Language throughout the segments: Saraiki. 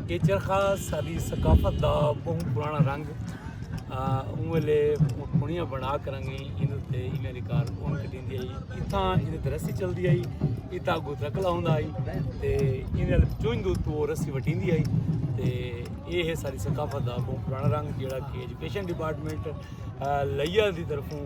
یہ چرخا ساری ثقافت دا بہت پرانا رنگ اون ویلے پونیاں بنا کر رنگی ان تے ایویں ریکار اون تے دیندی آئی اتھاں ان تے رسی چلدی آئی اتھاں کو ترکلا ہوندا آئی تے ان ال چون دو تو رسی وٹیندی آئی تے اے ہے ساری ثقافت دا بہت پرانا رنگ جیڑا کہ ایجوکیشن ڈپارٹمنٹ لیا دی طرفوں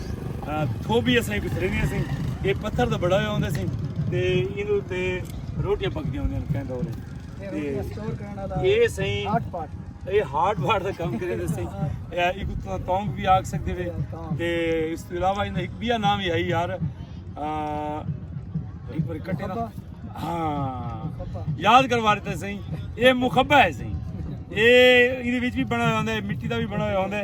تھوبی اسیں کچھ رہنی اسیں یہ پتھر دا بڑا ہویا ہوندے سیں تے اینو تے روٹیاں پک دیاں ہوندے ہیں کہیں دورے تے یہ سیں یہ ہارڈ بارڈ دا کام کرے دے سیں یہ ایک اتنا تونگ بھی آگ سکتے ہوئے تے اس تو علاوہ انہیں ایک بیا نام ہی آئی یار ایک بار کٹے نا ہاں یاد کروا رہتے سیں یہ مخبہ ہے سیں یہ انہیں ویچ بھی بنا ہوندے مٹی دا بھی بنا ہوندے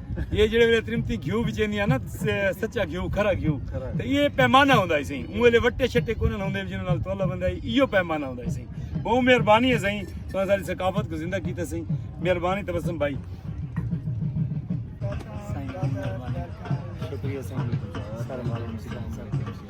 یہ جڑے ویلے ترمتی گھیو بھی چیندی ہے نا سچا گھیو کھرا گھیو تو یہ پیمانہ ہوندہ ہے سہی اون ویلے وٹے شٹے کونن ہوندے جنہوں نال تولا بندہ ہے یہ پیمانہ ہوندہ ہے سہی بہو مہربانی ہے سہی تو ساری ثقافت کو زندہ کیتا سہی مہربانی تبسم بھائی شکریہ سہی سارے مالک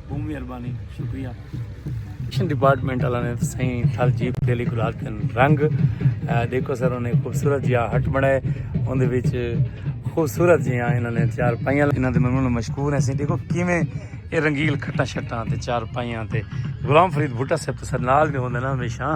بہت مہربانی شکریہ ایکشن ڈپارٹمنٹ والا نے سائیں تھل جیپ دے لیے گلال کن رنگ دیکھو سر انہیں خوبصورت جیا ہٹ بنائے ان دے وچ خوبصورت جیا انہوں نے چار پائیاں انہوں دے ممنون مشکور ہیں سائیں دیکھو کیویں اے رنگیل کھٹا شٹاں تے چار پائیاں تے غلام فرید بھٹا صاحب تو سر نال بھی ہوندے نا ہمیشہ